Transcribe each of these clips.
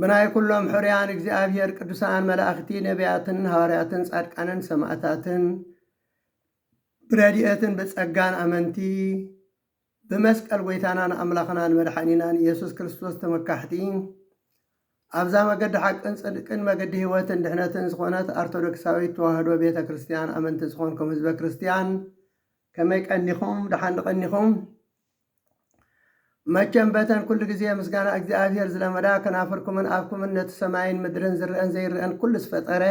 ብናይ ኩሎም ሕሩያን እግዚኣብሔር ቅዱሳን መላእኽቲ ነቢያትን ሃዋርያትን ጻድቃንን ሰማእታትን ብረድኤትን ብጸጋን ኣመንቲ ብመስቀል ጎይታናን ኣምላኽናን መድሓኒናን ኢየሱስ ክርስቶስ ተመካሕቲ ኣብዛ መገዲ ሓቅን ጽድቅን መገዲ ህይወትን ድሕነትን ዝኾነት ኣርቶዶክሳዊት ተዋህዶ ቤተ ክርስቲያን ኣመንቲ ዝኾንኩም ህዝበ ክርስቲያን ከመይ ቀኒኹም? ደሓን ድቐኒኹም? መቸም በተን ኩሉ ግዜ ምስጋና እግዚኣብሄር ዝለመዳ ከናፍርኩምን ኣፍኩምን ነቲ ሰማይን ምድርን ዝረኣን ዘይረኣን ኩሉ ዝፈጠረ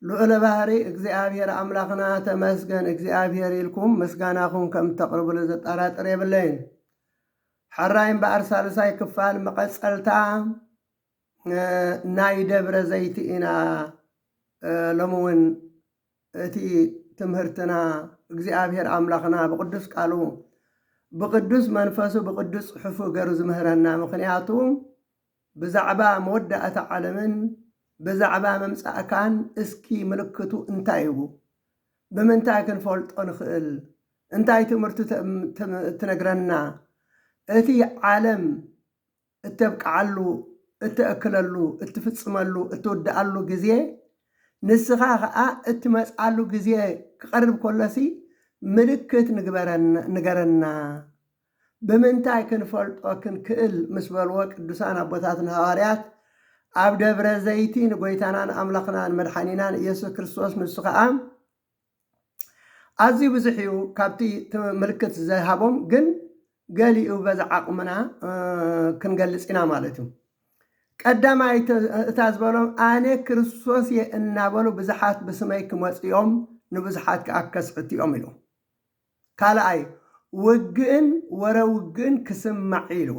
ልዑለ ባህሪ እግዚኣብሄር ኣምላኽና ተመስገን እግዚኣብሄር ኢልኩም ምስጋናኹም ከም እተቕርብሉ ዘጠራጥር የብለይን። ሐራይ እምበኣር ሳልሳይ ክፋል መቐጸልታ ናይ ደብረ ዘይቲ ኢና ሎሚ እውን እቲ ትምህርትና እግዚኣብሔር ኣምላኽና ብቅዱስ ቃሉ ብቅዱስ መንፈሱ ብቅዱስ ጽሑፉ ገሩ ዝምህረና ምኽንያቱ ብዛዕባ መወዳእታ ዓለምን ብዛዕባ ምምጻእካን እስኪ ምልክቱ እንታይ እዩ ብምንታይ ክንፈልጦ ንኽእል እንታይ ትምህርቱ ትነግረና እቲ ዓለም እተብቅዓሉ፣ እተእክለሉ፣ እትፍጽመሉ፣ እትውድኣሉ ግዜ፣ ንስኻ ኸኣ እትመጽኣሉ ግዜ ክቐርብ ከሎሲ ምልክት ንገረና፣ ብምንታይ ክንፈልጦ ክንክእል ምስ በልዎ ቅዱሳን ኣቦታትና ሃዋርያት ኣብ ደብረ ዘይቲ ንጐይታናን ኣምላኽናን መድሓኒናን ኢየሱስ ክርስቶስ ንሱ ኸኣ ኣዝዩ ብዙሕ እዩ ካብቲ እቲ ምልክት ዝሃቦም ግን ገሊኡ በዚ ዓቕምና ክንገልጽ ኢና ማለት እዩ። ቀዳማይ እታ ዝበሎም ኣነ ክርስቶስ እየ እናበሉ ብዙሓት ብስመይ ክመጹ እዮም ንብዙሓት ከኣ ከስሕቱ እዮም ኢሉ። ካልኣይ ውግእን ወረ ውግእን ክስማዕ እዩ ኢልዎ።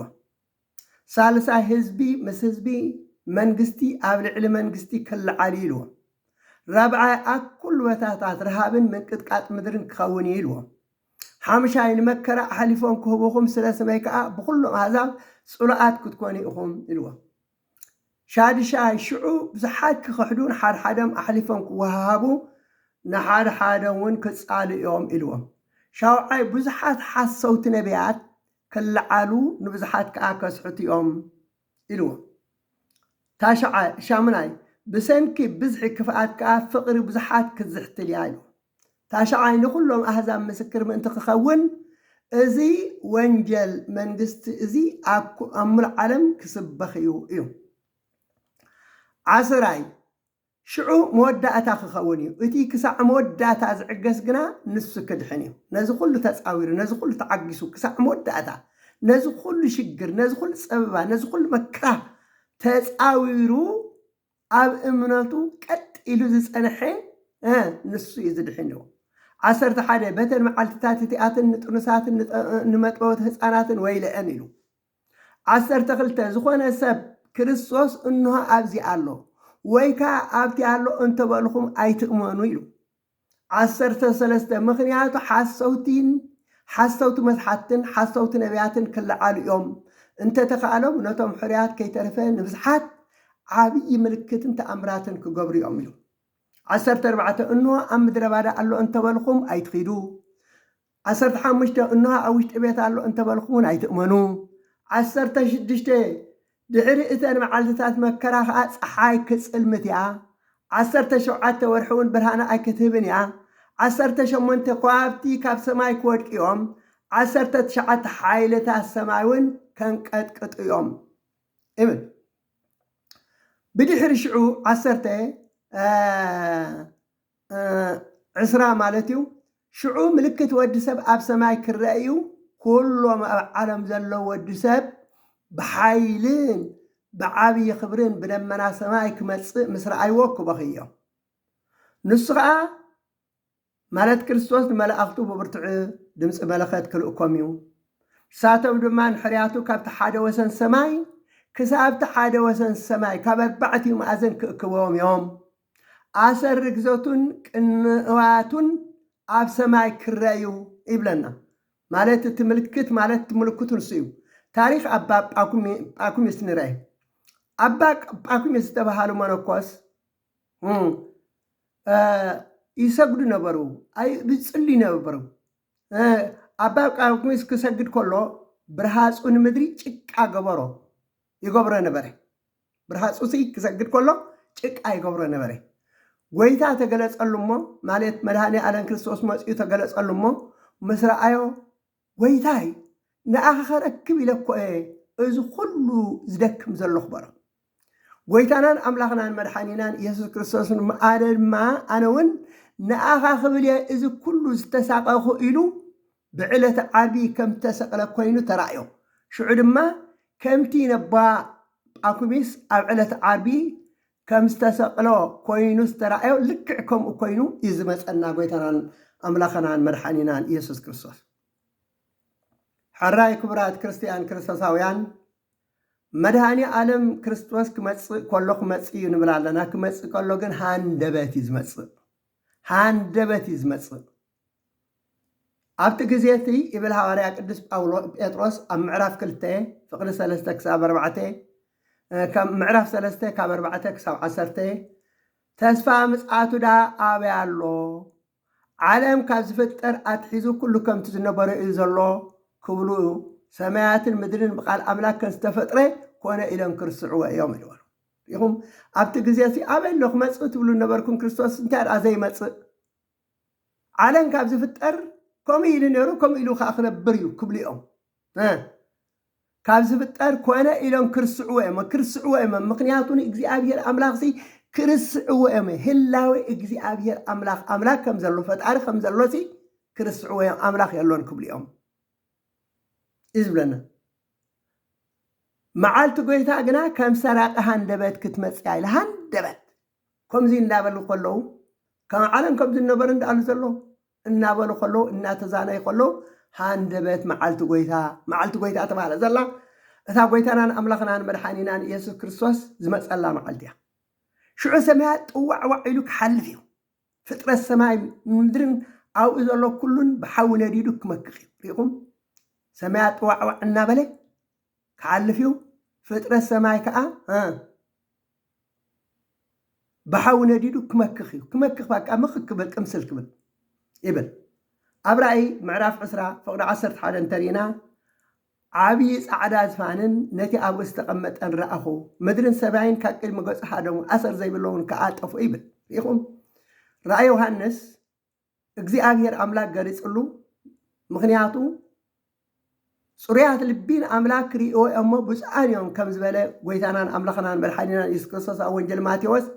ሳልሳይ ህዝቢ ምስ ህዝቢ መንግስቲ ኣብ ልዕሊ መንግስቲ ክለዓል እዩ ኢልዎም። ራብዓይ ኣብ ኩሉ በታታት ረሃብን ምንቅጥቃጥ ምድርን ክኸውን እዩ ኢልዎም። ሓምሻይ ንመከራ ኣሕሊፎም ክህቡኹም ስለ ስመይ ከኣ ብኹሎም ኣህዛብ ጽሉኣት ክትኮኑ ኢኹም ኢልዎም። ሻድሻይ ሽዑ ብዙሓት ክኽሕዱ ንሓድሓደም ኣሕሊፎም ክወሃሃቡ ንሓድሓደምውን ክጻልኡ እዮም ኢልዎም። ሻውዓይ ብዙሓት ሓሰውቲ ነብያት ክለዓሉ ንብዙሓት ከኣ ከስሕቱ'ዮም ኢሉዎም። ታሽዓይ፣ ሻሙናይ፣ ብሰንኪ ብዝሒ ክፍኣት ከኣ ፍቕሪ ብዙሓት ክትዝሕትል'ያ ኢሉዎም። ታሽዓይ፣ ንኹሎም ኣህዛብ ምስክር ምእንቲ ክኸውን እዚ ወንጀል መንግስቲ እዚ ኣብ ምሉእ ዓለም ክስበኽ'ዩ ኢሉ። ዓስራይ፣ ሽዑ መወዳእታ ክኸውን እዩ። እቲ ክሳዕ መወዳእታ ዝዕገስ ግና ንሱ ክድሕን እዩ። ነዚ ኹሉ ተጻዊሩ፣ ነዚ ኹሉ ተዓጊሱ፣ ክሳዕ መወዳእታ ነዚ ኹሉ ሽግር፣ ነዚ ኹሉ ጸበባ፣ ነዚ ኹሉ መከራ ተጻዊሩ ኣብ እምነቱ ቀጥ ኢሉ ዝጸንሐ ንሱ እዩ ዝድሕን እዩ። ዓሰርተ ሓደ በተን መዓልትታት እቲኣትን ንጥኑሳትን ንመጥበውቲ ህፃናትን ወይለአን ኢሉ ዓሰርተ ክልተ ዝኾነ ሰብ ክርስቶስ እንሆ ኣብዚ ኣሎ ወይ ከኣ ኣብቲ ኣሎ እንተበልኹም ኣይትእመኑ ኢሉ። ዓሰርተ ሰለስተ ምኽንያቱ ሓሰውቲን ሓሰውቲ መስሓትትን ሓሰውቲ ነብያትን ክለዓሉ እዮም፣ እንተተኻእሎም ነቶም ሕሩያት ከይተረፈ ንብዝሓት ዓብዪ ምልክትን ተኣምራትን ክገብሩ እዮም ኢሉ። ዓሰርተ ኣርባዕተ እንሆ ኣብ ምድረባዳ ኣሎ እንተበልኹም ኣይትኺዱ፣ ዓሰርተ ሓሙሽተ፣ እንሆ ኣብ ውሽጢ ቤት ኣሎ እንተ በልኩምውን ኣይትእመኑ። ዓሰርተ ሽዱሽተ፣ ድሕሪ እተን መዓልትታት መከራ ኸኣ ጸሓይ ክትጽልምት እያ፣ ዓሰርተ ሸውዓተ ወርሒውን ብርሃና ኣይክትህብን እያ፣ ዓሰርተ ሸሞንተ፣ ከዋኽብቲ ካብ ሰማይ ክወድቁ እዮም፣ ዓሰርተ ትሽዓተ፣ ሓይልታት ሰማይውን ከንቀጥቅጡ እዮም ይብል። ብድሕሪ ሽዑ ዓሰርተ፣ ዕስራ ማለት እዩ። ሽዑ ምልክት ወዲ ሰብ ኣብ ሰማይ ክረኣ እዩ፣ ኩሎም ኣብ ዓለም ዘለዉ ወዲ ሰብ ብሓይልን ብዓብዪ ክብርን ብደመና ሰማይ ክመጽእ ምስ ረኣይዎ ክበኽዩ እዮም። ንሱ ኸኣ ማለት ክርስቶስ ንመላእኽቱ ብብርቱዕ ድምፂ መለኸት ክልእኮም እዩ። ንሳቶም ድማ ንሕርያቱ ካብቲ ሓደ ወሰን ሰማይ ክሳብቲ ሓደ ወሰን ሰማይ ካብ ኣርባዕቲኡ መኣዝን ክእክብዎም እዮም ኣሰር ርግዘቱን ቅንዋቱን ኣብ ሰማይ ክረ እዩ ይብለና። ማለት እቲ ምልክት ማለት እቲ ምልክቱ ንሱ እዩ። ታሪኽ ኣባ ጳኩሚስ ንረ። ኣባ ጳኩሚስ ዝተባሃሉ መነኮስ ይሰግዱ ነበሩ፣ ይጽልዩ ነበሩ። ኣባ ጳኩሚስ ክሰግድ ከሎ ብርሃጹ ንምድሪ ጭቃ ገበሮ ይገብሮ ነበረ። ብርሃጹትይ ክሰግድ ከሎ ጭቃ ይገብሮ ነበረ። ጐይታ ተገለጸሉ እሞ፣ ማለት መድኃኔ ኣለም ክርስቶስ መጺኡ ተገለጸሉ እሞ፣ ምስ ረኣዮ፣ ጐይታይ፣ ንኣኻ ኸረክብ ኢለ እኮ እየ እዚ ኹሉ ዝደክም ዘሎኹ በሎ። ጐይታናን ኣምላኽናን መድኃኒናን ኢየሱስ ክርስቶስ ድማ ኣነውን ንኣኻ ክብል እየ እዚ ኩሉ ዝተሳቐኹ ኢሉ ብዕለተ ዓርቢ ከም እተሰቕለ ኰይኑ ተራእዮ። ሽዑ ድማ ከምቲ ነባ ጳኩሚስ ኣብ ዕለተ ዓርቢ ከም ዝተሰቕሎ ኰይኑ ዝተራእዮ ልክዕ ከምኡ ኰይኑ እዩ ዝመጸና ጐይታናን ኣምላኸናን መድሓኒናን ኢየሱስ ክርስቶስ። ሕራይ ክቡራት ክርስትያን ክርስቶሳውያን መድሃኒ ኣለም ክርስቶስ ክመጽእ ከሎ ክመጽእ እዩ ንብል ኣለና ክመጽእ ከሎ ግን ሃንደበት እዩ ዝመጽእ ሃንደበት እዩ ዝመጽእ ኣብቲ ግዜ እቲ ይብል ሃዋርያ ቅዱስ ጳውሎ ጴጥሮስ ኣብ ምዕራፍ ክልተ ፍቅዲ ሰለስተ ክሳብ ኣርባዕተ ከም ምዕራፍ ሰለስተ ካብ ኣርባዕተ ክሳብ ዓሰርተ ተስፋ ምጽኣቱ ድኣ ኣበይ ኣሎ ዓለም ካብ ዝፍጠር ኣትሒዙ ኩሉ ከምቲ ዝነበረ እዩ ዘሎ ክብሉ ሰማያትን ምድርን ብቃል ኣምላክ ከም ዝተፈጥረ ኮነ ኢሎም ክርስዕዎ እዮም ኢልዎ ኢኹም ኣብቲ ግዜ እዚ ኣበይ ኣሎ ክመጽእ ትብሉ ነበርኩም ክርስቶስ እንታይ ደኣ ዘይመጽእ ዓለም ካብ ዝፍጠር ከምኡ ኢሉ ነይሩ ከምኡ ኢሉ ከኣ ክነብር እዩ ክብሉ እዮም እ ካብ ዝፍጠር ኮነ ኢሎም ክርስዕዎ እዮም ክርስዕዎ እዮም ምክንያቱ ንእግዚኣብሔር ኣምላኽሲ ክርስዕዎ እዮም ህላዌ እግዚኣብሔር ኣምላኽ ኣምላክ ከም ዘሎ ፈጣሪ ከም ዘሎሲ ክርስዕዎ እዮም ኣምላኽ የሎን ክብሉ እዮም እዩ ዝብለና መዓልቲ ጎይታ ግና ከም ሰራቂ ሃንደበት ክትመጽያ ኢለ ሃንደበት ከምዚ እናበሉ ከለዉ ከም ዓለም ከም ዝነበረ እንዳኣሉ ዘሎ እናበሉ ከለዉ እናተዛነዩ ከለዉ ሃንደበት መዓልቲ ጐይታ መዓልቲ ጐይታ ተባህለ ዘላ እታ ጐይታናን ኣምላኽናን መድሓኒናን ኢየሱስ ክርስቶስ ዝመጸላ መዓልቲ እያ። ሽዑ ሰማያት ጥዋዕዋዕ ኢሉ ክሓልፍ እዩ። ፍጥረት ሰማይ ምድርን ኣብኡ ዘሎ ኩሉን ብሓዊ ነዲዱ ክመክኽ እዩ። ርኢኹም ሰማያት ጥዋዕዋዕ እናበለ ክሓልፍ እዩ ፍጥረት ሰማይ ከዓ ብሓዊ ነዲዱ ክመክኽ እዩ ክመክኽ ባቃ ምኽክ ክብል ቅምስል ክብል ይብል ኣብ ራእይ ምዕራፍ ዕስራ ፍቕዲ ዓሰርተ ሓደ እንተሪእና ዓብዪ ፃዕዳ ዝፋንን ነቲ ኣብኡ ዝተቐመጠን ረኣኹ ምድርን ሰማይን ካብ ቅድሚ ገጹ ሃደሙ ኣሰር ዘይብለውን ከዓ ጠፍኡ ይብል ሪኢኹም ራእይ ዮሃንስ እግዚኣብሔር ኣምላክ ገሊፅሉ ምክንያቱ ፅሩያት ልቢ ንኣምላክ ክርእይዎ እዮሞ ብፁዓን እዮም ከም ዝበለ ጎይታናን ኣምላክናን መድሓኒናን ኢየሱስ ክርስቶስ ኣብ ወንጀል ማቴዎስ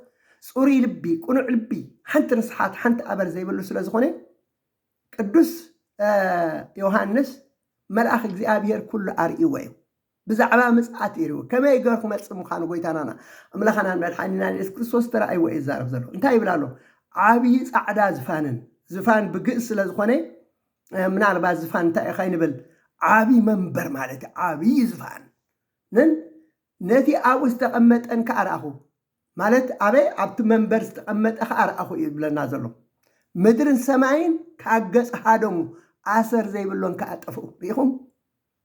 ፅሩይ ልቢ ቅኑዕ ልቢ ሓንቲ ርስሓት ሓንቲ ኣበር ዘይብሉ ስለ ዝኾነ ቅዱስ ዮሃንስ መልኣክ እግዚኣብሔር ኩሉ ኣርእይዎ እዩ ብዛዕባ ምጽኣት ይርኡ ከመይ ገሩ ክመጽእ ምዃኑ ጎይታናና ኣምላኻናን መድሓኒናን የሱስ ክርስቶስ ተራእይዎ እዩ ዝዛረብ ዘሎ እንታይ ይብል ኣሎ ዓብዪ ጻዕዳ ዝፋንን ዝፋን ብግእዝ ስለ ዝኾነ ምናልባት ዝፋን እንታይ እዩ ከይንብል ዓብዪ መንበር ማለት እዩ ዓብዪ ዝፋን ንን ነቲ ኣብኡ ዝተቐመጠን ከዓ ረኣኹ ማለት ኣበይ ኣብቲ መንበር ዝተቐመጠ ከዓ ረኣኹ እዩ ዝብለና ዘሎ ምድርን ሰማይን ካብ ገጽ ሃደሙ ኣሰር ዘይብሎን ከዓ ጠፍኡ ርኢኹም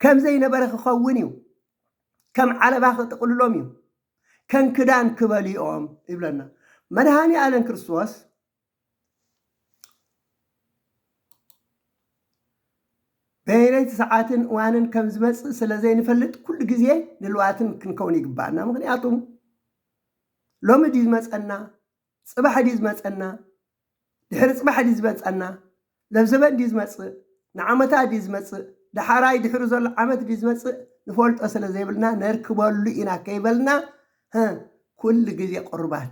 ከም ዘይነበረ ኪኸውን እዩ፣ ከም ዓለባ ኪጥቕልሎም እዩ፣ ከም ክዳን ኪበልዮም ይብለና። መድኃኔ ዓለም ክርስቶስ በየነይቲ ሰዓትን እዋንን ከም ዝመጽእ ስለ ዘይንፈልጥ ኩሉ ግዜ ድልዋትን ክንከውን ይግባኣና። ምክንያቱም ሎሚ ድዩ ዝመጸና ጽባሕ ድዩ ዝመጸና ድሕሪ ጽባሕ ድዩ ዝመጸና ለብዘበን ድዩ ዝመጽእ ንዓመታ ድዩ ዝመጽእ ዳሓራይ ድሕሩ ዘሎ ዓመት ድዩ ዝመጽእ ንፈልጦ ስለ ዘይብልና ነርክበሉ ኢና ከይበልና ህ ኩሉ ግዜ ቁሩባት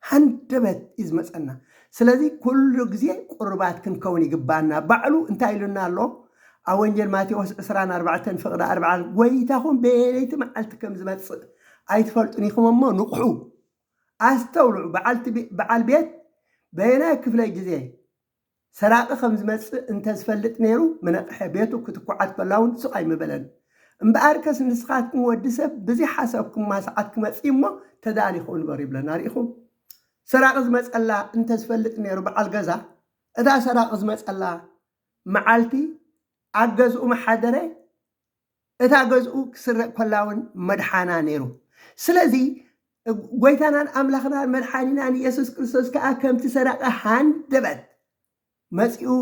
ሃንደበት እዩ ዝመጸና ስለዚ ኩሉ ግዜ ቁሩባት ክንከውን ይግባና ባዕሉ እንታይ ኢሉና ኣሎ ኣብ ወንጀል ማቴዎስ ዕስራን ኣርባዕተን ፍቕዲ ኣርብዓ ጎይታኹም በየነይቲ መዓልቲ ከም ዝመጽእ ኣይትፈልጡን ኢኹም እሞ ንቕሑ ኣስተውልዑ በዓልቲ በዓል ቤት በየናይ ክፍለ ግዜ ሰራቂ ከም ዝመጽእ እንተ ዝፈልጥ ነይሩ ምነቅሐ ቤቱ ክትኩዓት ከላ ውን ስቅ ኣይምበለን እምበኣርከስ ንስካትኩም ወዲ ሰብ ብዝይሓሰብኩማ ሰዓት ክመጽእ እዩ እሞ ተዳሊኩም ንበሩ ይብለና ሪኢኩም ሰራቂ ዝመጸላ እንተ ዝፈልጥ ነይሩ በዓል ገዛ እታ ሰራቂ ዝመጸላ መዓልቲ ኣብ ገዝኡ ምሓደረ እታ ገዝኡ ክስረቅ ኮላውን መድሓና ነይሩ ስለዚ ጎይታናን ኣምላኽናን መድሓኒናን የሱስ ክርስቶስ ከኣ ከምቲ ሰራቂ ሃንደበት መጺኡ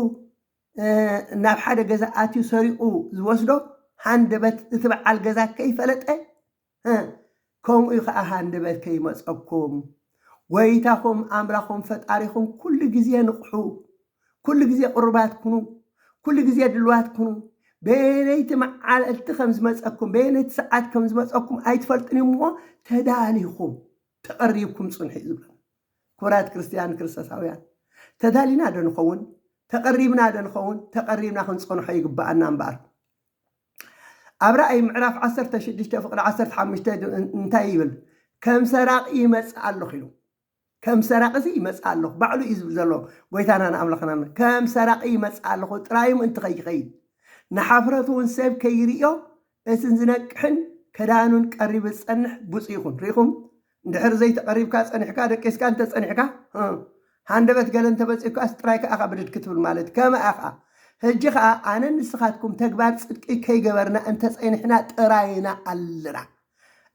ናብ ሓደ ገዛ ኣትዩ ሰሪቁ ዝወስዶ ሃንደበት እቲ በዓል ገዛ ከይፈለጠ ህህ ከምኡ ከኣ ሃንደበት ከይመጸኩም ጎይታኹም ኣምላኹም ፈጣሪኹም ኩሉ ግዜ ንቕሑ ኩሉ ግዜ ቅሩባት ኩኑ ኩሉ ግዜ ድልዋት ኩኑ በየነይቲ መዓልቲ ከም ዝመጸኩም በየነይቲ ሰዓት ከም ዝመጸኩም ኣይትፈልጡን እሞ ተዳሊኹም ተቐሪብኩም ጽንሑ እዩ ዝብለና ክቡራት ክርስትያን ክርስቶሳውያን ተዳሊና ዶ ንኸውን ተቐሪብና ዶ ንኸውን ተቐሪብና ክንጸንሖ ይግባኣና እምበኣር ኣብ ራእይ ምዕራፍ ዓሰርተ ሽዱሽተ ፍቕዲ ዓሰርተ ሓሙሽተ እንታይ ይብል? ከም ሰራቂ ይመጽእ ኣለኹ ኢሉ ከም ሰራቂ እዚ ይመጽእ ኣለኹ ባዕሉ እዩ ዝብል ዘሎ ጎይታና ንኣምላኽና ከም ሰራቂ ይመጽእ ኣለኹ ጥራይ ምእንቲ ከይኸይድ ንሓፍረቱ እውን ሰብ ከይርእዮ እትን ዝነቅሕን ከዳኑን ቀሪቡ ዝጸንሕ ብፁ ይኹን ርኢኹም እንድሕር ዘይተቐሪብካ ጸኒሕካ ደቂስካ እንተ ጸኒሕካ ሃንደበት ገለ እንተ በጺሑካስ ጥራይ ከኣ ኢኻ ብድድ ክትብል ማለት ከመ ኣኻ። ህጂ ከኣ ኣነን ንስኻትኩም ተግባር ጽድቂ ከይገበርና እንተ ጸኒሕና ጥራይና ኣለና።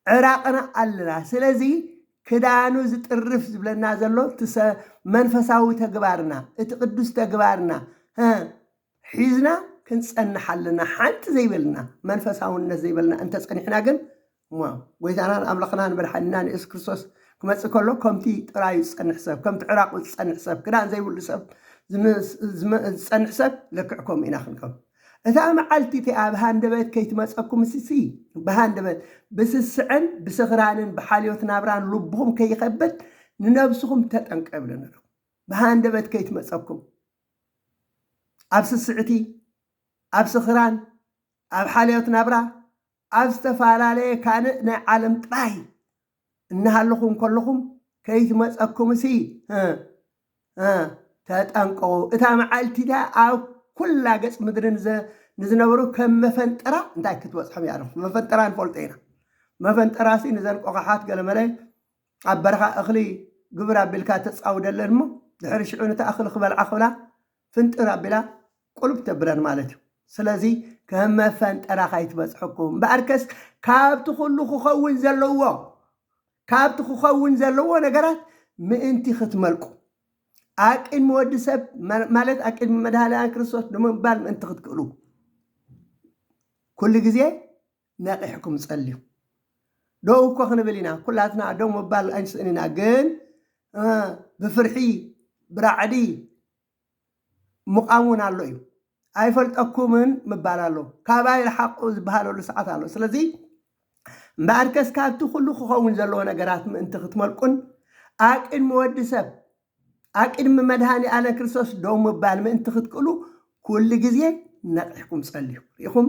ዕራቕና ኣለና። ስለዚ ክዳኑ ዝጥርፍ ዝብለና ዘሎ እቲ መንፈሳዊ ተግባርና እቲ ቅዱስ ተግባርና ሒዝና ክንጸንሕ ኣለና። ሓንቲ ዘይበልና መንፈሳውነት ዘይበልና እንተ ጸኒሕና ግን እሞ ጎይታናን ኣምላኽናን መድሓኒናን የሱስ ክርስቶስ ክመጽእ ከሎ ከምቲ ጥራዩ ዝጸንሕ ሰብ ከምቲ ዕራቁ ዝጸንሕ ሰብ ክዳን ዘይብሉ ሰብ ዝጸንሕ ሰብ ልክዕ ከምኡ ኢና ክንከውን እታ መዓልቲ እቲኣ ብሃንደበት ከይትመጸኩም ስሲ ብሃንደበት ብስስዐን ብስኽራንን ብሓልዮት ናብራን ልብኹም ከይኸብድ ንነብስኹም ተጠንቀ ይብለና ኣለኹ ብሃንደበት ከይትመጸኩም ኣብ ስስዕቲ ኣብ ስኽራን ኣብ ሓልዮት ናብራ ኣብ ዝተፈላለየ ካልእ ናይ ዓለም ጥራይ እናሃለኹም ከለኹም ከይትመጸኩምሲ ህእ ህእ ተጠንቀቑ እታ መዓልቲ እቲኣ ኣብ ኩላ ገጽ ምድሪ ንዝነበሩ ከም መፈንጠራ እንታይ ክትበጽሖም እያ ኣለኹ መፈንጠራ ንፈልጦ ኢና መፈንጠራሲ ንዘን ቆቓሓት ገለመለ ኣብ በረኻ እኽሊ ግብር ኣቢልካ ተጻውደለን እሞ ድሕሪ ሽዑ ነቲ ኣኽሊ ክበልዓ ክብላ ፍንጥር ኣቢላ ቁልፍ ተብለን ማለት እዩ ስለዚ ከም መፈንጠራ ካይትበጽሐኩም እምበኣርከስ ካብቲ ኩሉ ክኸውን ዘለዎ ካብቲ ክኸውን ዘለዎ ነገራት ምእንቲ ክትመልቁ ኣቅድሚ ወዲ ሰብ ማለት ኣቅድሚ መድሃልያን ክርስቶስ ንምባል ምእንቲ ክትክእሉ ኩሉ ግዜ ነቂሕኩም ጸልዩ ደው እኮ ክንብል ኢና ኩላትና ደው ምባል ኣይንስእን ኢና ግን ብፍርሒ ብራዕዲ ምቛም እውን ኣሎ እዩ ኣይፈልጠኩምን ምባል ኣሎ ካባይ ረሓቁ ዝበሃለሉ ሰዓት ኣሎ ስለዚ እምበኣርከስ ካብቲ ኩሉ ክኸውን ዘለዎ ነገራት ምእንቲ ክትመልቁን ኣብ ቅድሚ ወዲ ሰብ ኣብ ቅድሚ መድኃኔኣለ ክርስቶስ ደው ምባል ምእንቲ ክትክእሉ ኩሉ ጊዜ ነቒሕኩም ጸልዩ። ርኢኹም?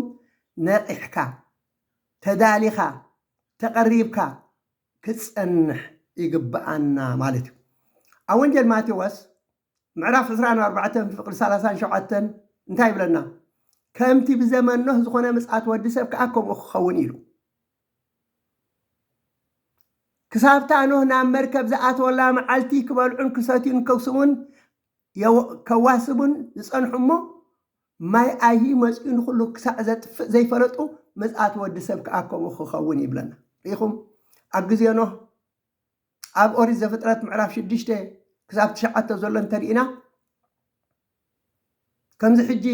ነቒሕካ፣ ተዳሊኻ፣ ተቐሪብካ ክትጸንሕ ይግብኣና ማለት እዩ። ኣብ ወንጌል ማቴዎስ ምዕራፍ ዕስራን ኣርባዕተን ፍቕዲ ሰላሳን ሸውዓተን እንታይ ይብለና? ከምቲ ብዘመን ኖህ ዝኾነ ምጽኣት ወዲ ሰብ ከኣ ከምኡ ክኸውን ኢዩ ኢሉ። ክሳብ'ታ ኖህ ናብ መርከብ ዝኣትወላ መዓልቲ ክበልዑን ክሰትዩን ከክስሙን ከዋስቡን ዝጸንሑ'ሞ፣ ማይ ኣይሂ መጺኡ ንኹሉ ክሳዕ ዘጥፍእ ዘይፈለጡ፣ ምጽኣት ወዲ ሰብ ከኣ ከምኡ ክኸውን እዩ ይብለና። ርኢኹም? ኣብ ግዜ ኖህ ኣብ ኦሪት ዘፍጥረት ምዕራፍ ሽዱሽተ ክሳብ ትሽዓተ ዘሎ እንተርኢና ከምዚ ሕጂ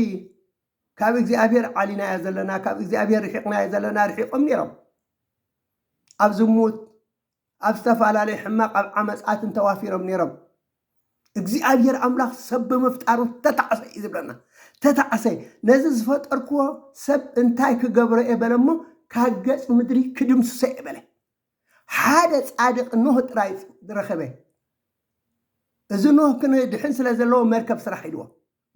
ካብ እግዚኣብሔር ዓሊናዮ ዘለና ካብ እግዚኣብሔር ርሒቅናዮ ዘለና ርሒቆም ነይሮም ኣብ ዝሙት ኣብ ዝተፈላለየ ሕማቅ ኣብ ዓመጻትን ተዋፊሮም ነይሮም እግዚኣብሔር ኣምላኽ ሰብ ብምፍጣሩ ተታዕሰ እዩ ዝብለና ተታዕሰ ነዚ ዝፈጠርክዎ ሰብ እንታይ ክገብሮ እየ በለ እሞ ካብ ገጽ ምድሪ ክድምስሶ እየ በለ ሓደ ጻድቅ ኖህ ጥራይ ረኸበ እዚ ኖህ ክንድሕን ስለ ዘለዎ መርከብ ስራሕ ኢልዎ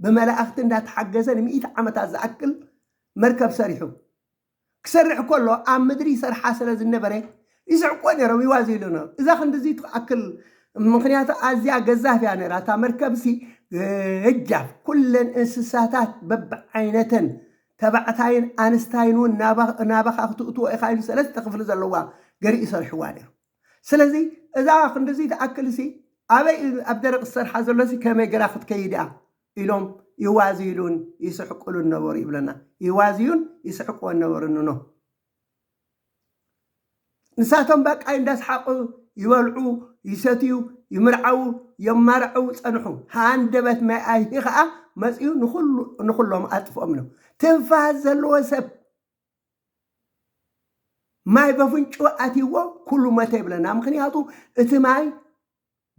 ብመላእኽቲ እንዳተሓገዘ ንሚእቲ ዓመታት ዝኣክል መርከብ ሰሪሑ። ክሰርሕ ከሎ ኣብ ምድሪ ይሰርሓ ስለ ዝነበረ ይስሕቅዎ ነይሮም ይዋዝይሉ ነይሮም። እዛ ክንድዚ ትኣክል ምኽንያቱ ኣዝያ ገዛፍ እያ ነይራ እታ መርከብሲ ገጃፍ ኩለን እንስሳታት በብዓይነተን ተባዕታይን ኣንስታይን እውን ናባኻ ክትእትዎ ኢኻ ኢሉ ሰለስተ ክፍሊ ዘለዋ ገርሂ ሰሪሕዋ ነይሩ። ስለዚ እዛ ክንድዚ ትኣክልሲ ኣበይ እዩ ኣብ ደረቕ ዝሰርሓ ዘሎሲ ከመይ ገራ ክትከይድ እያ ኢሎም ይዋዝይሉን ይስሕቅሉን ነበሩ ይብለና። ይዋዝዩን ይስሕቅዎን ነበሩ ንኖ። ንሳቶም ባቃይ እንዳስሓቑ ይበልዑ፣ ይሰትዩ፣ ይምርዓዉ፣ የማርዕዉ ጸንሑ። ሃንደበት ማይ ኣይሂ ከኣ መጺኡ ንኹሎም ኣጥፍኦም ኢሎም። ትንፋስ ዘለዎ ሰብ ማይ በፍንጭኡ ኣትይዎ ኩሉ መተ ይብለና ምኽንያቱ እቲ ማይ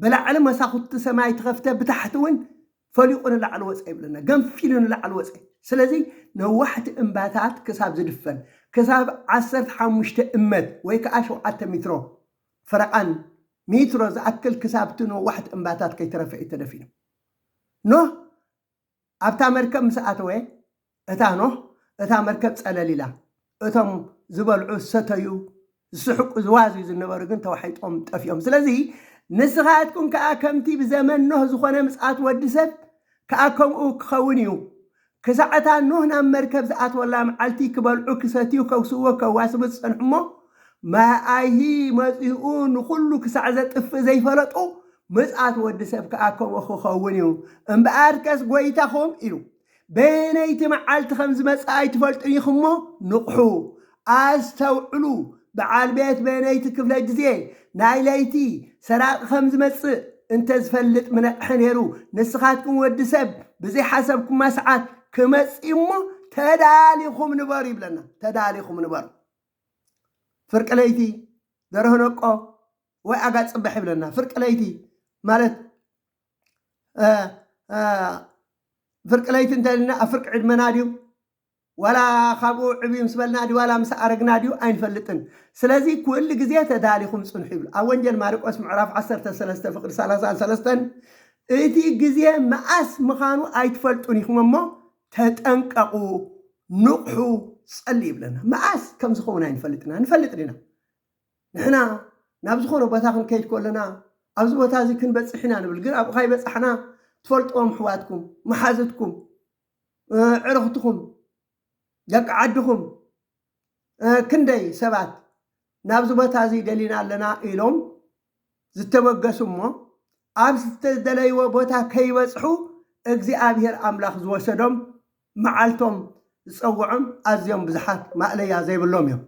በላዕሊ መሳኹቲ ሰማይ ትኸፍተ ብታሕቲ እውን ፈሊቑ ንላዕሊ ወፀ ይብለና ገንፊሉ ንላዕሊ ወፀ ስለዚ ነዋሕቲ እምባታት ክሳብ ዝድፈን ክሳብ ዓሰርተ ሓሙሽተ እመት ወይ ከዓ ሸውዓተ ሚትሮ ፈረቓን ሚትሮ ዝኣክል ክሳብቲ ነዋሕቲ እምባታት ከይተረፈ እዩ ተደፊኑ ኖህ ኣብታ መርከብ ምስ ኣተወ፣ እታ ኖህ እታ መርከብ ጸለል ኢላ። እቶም ዝበልዑ፣ ዝሰተዩ፣ ዝስሕቁ፣ ዝዋዝዩ ዝነበሩ ግን ተዋሒጦም ጠፊኦም። ስለዚ ንስኻትኩም ከኣ ከምቲ ብዘመን ኖህ ዝኾነ ምጽኣት ወዲ ሰብ ከኣ ከምኡ ክኸውን እዩ። ክሳዕ እታ ኖህ ናብ መርከብ ዝኣትወላ መዓልቲ ክበልዑ ክሰትዩ ከጉስዎ ከዋስቡ ዝጸንሑ እሞ ማይ ኣይሂ መጺኡ ንኹሉ ክሳዕ ዘጥፍእ ዘይፈለጡ፣ ምጽኣት ወዲ ሰብ ከኣ ከምኡ ኪኸውን እዩ። እምበኣርከስ ጐይታኹም ኢሉ፣ በየነይቲ መዓልቲ ከም ዝመጽእ ኣይትፈልጡን ኢኹም እሞ፣ ንቕሑ፣ ኣስተውዕሉ፣ በዓል ቤት በየነይቲ ክፍለ ግዜ፣ ናይ ለይቲ፣ ሰራቒ ከም ዝመጽእ እንተ ዝፈልጥ ምነቕሐ ነይሩ፣ ንስኻትኩም ወዲ ሰብ ብዘይሓሰብኩማ ሰዓት ክመጽእ እዩ እሞ፣ ተዳሊኹም ንበሩ ይብለና። ተዳሊኹም ንበሩ። ፍርቂ ለይቲ ደርሆ ነቆ ወይ ኣጋ ጽብሕ ይብለና ፍርቂ ለይቲ ማለት ፍርቂ ለይቲ እንተልና ኣብ ፍርቂ ዕድመና ድዩ ዋላ ካብኡ ዕብዩ ምስ በልና ድዩ ዋላ ምስ ኣረግና ድዩ ኣይንፈልጥን ስለዚ ኩሉ ግዜ ተዳሊኹም ጽንሑ ይብሉ ኣብ ወንጀል ማርቆስ ምዕራፍ 13 ፍቅዲ 33 እቲ ግዜ መኣስ ምዃኑ ኣይትፈልጡን ኢኹም እሞ ተጠንቀቑ ንቕሑ ጸልዩ ይብለና። መኣስ ከም ዝኸውን ኣይንፈልጥን ኢና። ንፈልጥ ዲና? ንሕና ናብ ዝኾነ ቦታ ክንከይድ ከለና ኣብዚ ቦታ እዚ ክንበጽሕ ኢና ንብል፣ ግን ኣብኡ ካይበጻሕና ትፈልጥዎም ኣሕዋትኩም፣ መሓዙትኩም፣ ኣዕርኽትኩም፣ ደቂ ዓድኹም ክንደይ ሰባት ናብዚ ቦታ እዚ ደሊና ኣለና ኢሎም ዝተበገሱ እሞ ኣብ ዝተደለይዎ ቦታ ከይበጽሑ እግዚኣብሄር ኣምላኽ ዝወሰዶም መዓልቶም ዝጸውዖም ኣዝዮም ብዙሓት ማእለያ ዘይብሎም እዮም።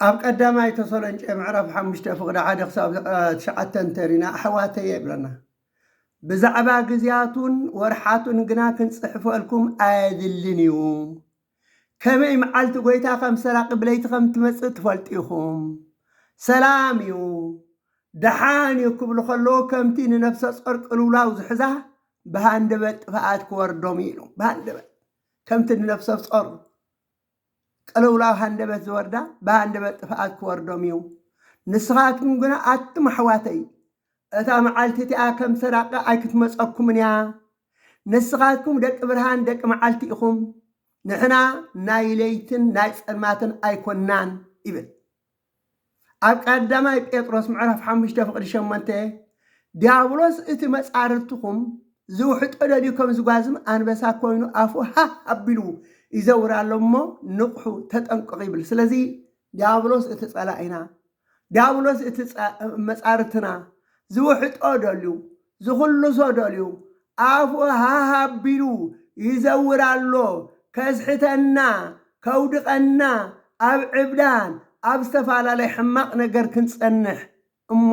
ኣብ ቀዳማይ ተሰሎንጨ ምዕራፍ ሓሙሽተ ፍቕዲ ሓደ ክሳብ ትሽዓተ እንተሪና ኣሕዋተየ ይብለና ብዛዕባ ግዜያቱን ወርሓቱን ግና ክንጽሕፈልኩም ኣየድልን እዩ ከመይ መዓልቲ ጎይታ ከም ሰራቂ ብለይቲ ከም ትመጽእ ትፈልጡ ኢኹም ሰላም እዩ ደሓን እዩ ክብሉ ከለዉ ከምቲ ንነፍሰ ጾር ቅልውላው ዝሕዛ ብሃንደበት ጥፍኣት ክወርዶም እዩ ኢሉ ብሃንደበት ከምቲ ንነፍሰ ጾር ቅልውላው ሃንደበት ዝወርዳ ብሃንደበት ጥፍኣት ክወርዶም እዩ። ንስኻትኩም ግና ኣቱም ኣሕዋተይ፣ እታ መዓልቲ እቲኣ ከም ሰራቂ ኣይክትመጸኩምን እያ። ንስኻትኩም ደቂ ብርሃን ደቂ መዓልቲ ኢኹም፣ ንሕና ናይ ለይትን ናይ ጸልማትን ኣይኮናን ይብል። ኣብ ቀዳማይ ጴጥሮስ ምዕራፍ ሓሙሽተ ፍቕዲ ሸሞንተ ዲያብሎስ እቲ መጻርርትኹም ዝውሕጦ ደልዩ ከም ዝጓዝም ኣንበሳ ኮይኑ ኣፉ ሃህ ኣቢሉ ይዘውር ኣሎ እሞ ንቕሑ ተጠንቀቑ ይብል ስለዚ ዲያብሎስ እቲ ጸላኢና ዲያብሎስ እቲ መጻርትና ዝውሕጦ ደልዩ ዝኹሉ ሰው ደልዩ ኣፉ ሃህ ኣቢሉ ይዘውር ኣሎ ከስሕተና ከውድቀና ኣብ ዕብዳን ኣብ ዝተፋላለይ ሕማቅ ነገር ክንጸንሕ እሞ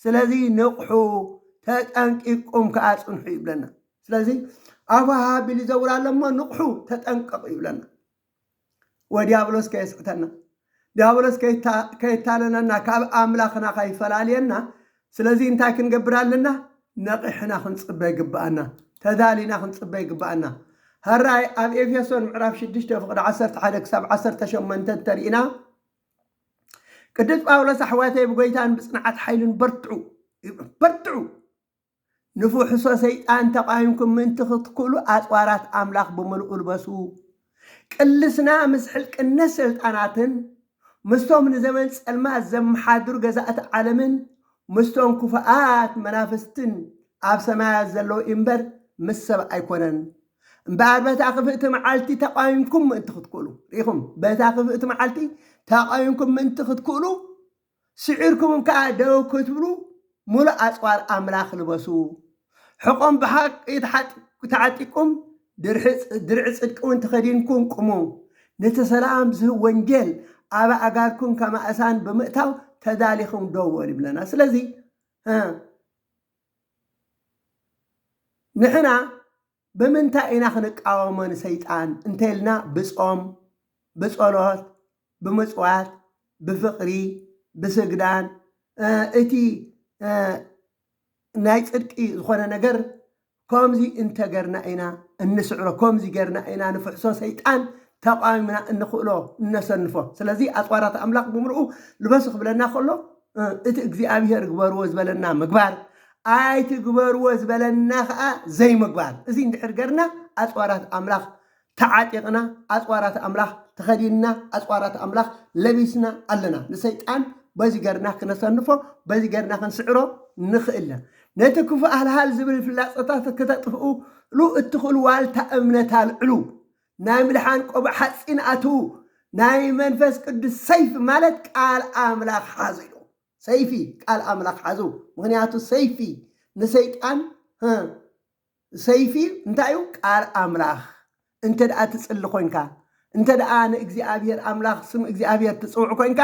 ስለዚ ንቕሑ ተጠንቂቅኩም ከኣ ጽንሑ ይብለና ስለዚ ኣፉ ሃህ ኣቢሉ ይዘውር ኣሎ እሞ ንቕሑ ተጠንቀቁ ይብለና። ወዲያብሎስ ከየስሕተና ዲያብሎስ ከየታለለና ካብ ኣምላኽና ከይፈላልየና ስለዚ እንታይ ክንገብር ኣለና ነቒሕና ክንጽበ ይግብኣና ተዳሊና ክንጽበ ይግብኣና ሀራይ ኣብ ኤፌሶን ምዕራፍ 6 ፍቕዲ 11 ክሳብ 18 እንተሪኢና ቅዱስ ጳውሎስ ኣሕዋተይ ብጎይታን ብጽንዓት ሓይልን በርትዑ ይብል በርትዑ ንፍሕሶ ሰይጣን ተቓዊምኩም ምእንቲ ክትክእሉ ኣጽዋራት ኣምላኽ ብምልኡ ልበሱ። ቅልስና ምስ ሕልቅነት ሰልጣናትን ምስቶም ንዘመን ጸልማት ዘመሓድሩ ገዛእቲ ዓለምን ምስቶም ክፉኣት መናፍስትን ኣብ ሰማያት ዘለዉ እዩ'ምበር ምስ ሰብ ኣይኮነን። እምበኣር በታ ክፍእቲ መዓልቲ ተቓዊምኩም ምእንቲ ክትክእሉ። ርኢኹም፣ በታ ክፍእቲ መዓልቲ ተቓዊምኩም ምእንቲ ክትክእሉ። ስዒርኩምም ከኣ ደው ክትብሉ ምሉእ ኣጽዋር ኣምላኽ ልበሱ፣ ሕቖም ብሓቒ ተዓጢቅኩም ድርዒ ጽድቂውን ተኸዲንኩም ቁሙ፣ ነቲ ሰላም ዝህብ ወንጌል ኣብ ኣእጋርኩም ከም ኣእሳን ብምእታው ተዳሊኹም ደው በሉ ይብለና። ስለዚ ንሕና ብምንታይ ኢና ክንቃወሞ ንሰይጣን እንተልና ብጾም ብጸሎት ብምጽዋት ብፍቅሪ ብስግዳን እቲ ናይ ጽድቂ ዝኾነ ነገር ኮምዚ እንተገርና ኢና እንስዕሮ ኮምዚ ገርና ኢና ንፍሕሶ ሰይጣን ተቃዊምና እንኽእሎ እነሰንፎ ስለዚ ኣጽዋራት ኣምላኽ ብምልኡ ልበሱ ክብለና ከሎ እቲ እግዚኣብሄር ግበርዎ ዝበለና ምግባር፣ ኣይትግበርዎ ዝበለና ኸኣ ዘይምግባር። እዚ እንድሕር ገርና ኣጽዋራት ኣምላኽ ተዓጢቕና፣ ኣጽዋራት ኣምላኽ ተኸዲንና፣ ኣጽዋራት ኣምላኽ ለቢስና ኣለና። ንሰይጣን በዚ ገርና ክነሰንፎ፣ በዚ ገርና ክንስዕሮ ንኽእል ኢና። ነቲ ክፉእ ሃልሃል ዝብል ፍላጸታት ክተጥፍእሉ እትኽእሉ ዋልታ እምነት ኣልዕሉ። ናይ ምድሓን ቆብዕ ሓጺን ኣትዉ፣ ናይ መንፈስ ቅዱስ ሰይፊ ማለት ቃል ኣምላኽ ሓዙ ኢሉ። ሰይፊ ቃል ኣምላኽ ሓዙ፣ ምኽንያቱ ሰይፊ ንሰይጣን ሰይፊ እንታይ እዩ? ቃል ኣምላኽ እንተ ደኣ ትጽሊ ኮንካ እንተ ደኣ ንእግዚኣብሔር ኣምላኽ ስም እግዚኣብሔር ትጽውዕ ኮንካ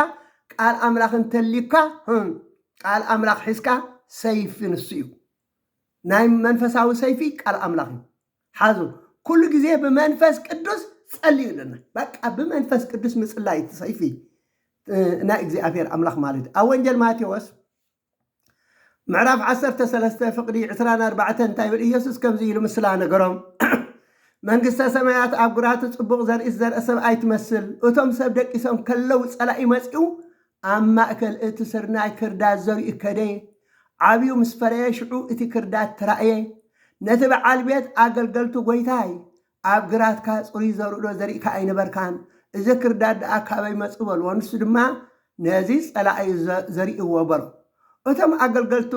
ቃል ኣምላኽ እንተልዩካ ቃል ኣምላኽ ሒዝካ ሰይፊ ንሱ እዩ ናይ መንፈሳዊ ሰይፊ ቃል ኣምላኽ እዩ ሓዙ ኩሉ ግዜ ብመንፈስ ቅዱስ ጸልዩ ኣለና በቃ ብመንፈስ ቅዱስ ምጽላይ እቲ ሰይፊ ናይ እግዚኣብሔር ኣምላኽ ማለት እዩ ኣብ ወንጀል ማቴዎስ ምዕራፍ 13 ፍቅዲ 24 እንታይ ይብል ኢየሱስ ከምዚ ኢሉ ምስላ ነገሮም መንግስተ ሰማያት ኣብ ጉራቲ ጽቡቕ ዘርኢ ዝዘርአ ሰብኣይ ትመስል እቶም ሰብ ደቂሶም ከለው ጸላኢ መጺኡ ኣብ ማእከል እቲ ስርናይ ክርዳድ ዘሪኡ ከደየ። ዓብዩ ምስ ፈረየ ሽዑ እቲ ክርዳድ ተራእየ። ነቲ በዓል ቤት ኣገልገልቱ ጎይታይ ኣብ ግራትካ ጽሩይ ዘርኡዶ ዘሪእካ ኣይነበርካን? እዚ ክርዳድ ደኣ ካበይ መጹ በልዎ። ንሱ ድማ ነዚ ጸላእዩ ዘሪእዎ በሎ። እቶም ኣገልገልቱ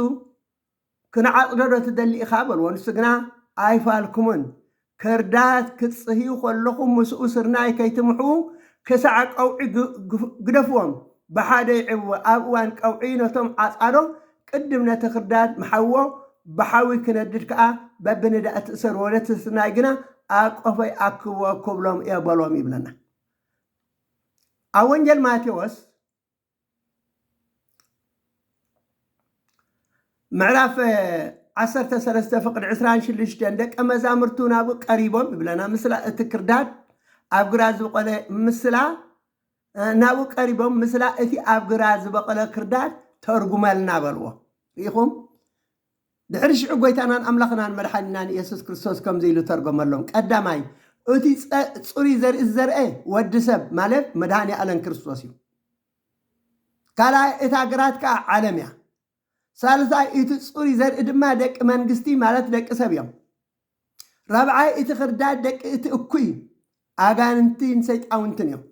ክንዓጽዶ ዶ ትደሊ ኢኻ? በልዎ። ንሱ ግና ኣይፋልኩምን። ከርዳት ክትጽህዩ ከለኹም ምስኡ ስርናይ ከይትምሕዉ ክሳዕ ቀውዒ ግደፍዎም። ብሓደ ይዕብዎ። ኣብ እዋን ቀውዒ ነቶም ዓጻዶ ቅድም ነቲ ክርዳድ ምሓዎ፣ ብሓዊ ክነድድ ከኣ በብንዳእቲ እሰርዎ፣ ነቲ ስርናይ ግና ኣብ ቆፎይ ኣክብዎ ክብሎም እየ በሎም ይብለና። ኣብ ወንጌል ማቴዎስ ምዕራፍ ዓሰርተ ሰለስተ ፍቕዲ ዕስራን ሽዱሽተን ደቀ መዛሙርቱ ናብኡ ቀሪቦም ይብለና ምስላ እቲ ክርዳድ ኣብ ግራ ዝበቆለ ምስላ ናብኡ ቀሪቦም ምስላ እቲ ኣብ ግራ ዝበቆለ ክርዳድ ተርጉመልና በልዎ ርኢኹም ድሕሪ ሽዑ ጐይታናን ኣምላኽናን መድሓኒናን ኢየሱስ ክርስቶስ ከምዚ ኢሉ ተርጐመሎም፣ ቀዳማይ እቲ ጽሩይ ዘርኢ ዝዘርአ ወዲ ሰብ ማለት መድኃኔ ኣለም ክርስቶስ እዩ። ካልኣይ እታ ግራት ከኣ ዓለም እያ። ሳልሳይ እቲ ጽሩይ ዘርኢ ድማ ደቂ መንግስቲ ማለት ደቂ ሰብ እዮም። ራብዓይ እቲ ክርዳድ ደቂ እቲ እኩይ ኣጋንንቲን ሰይጣውንትን እዮም።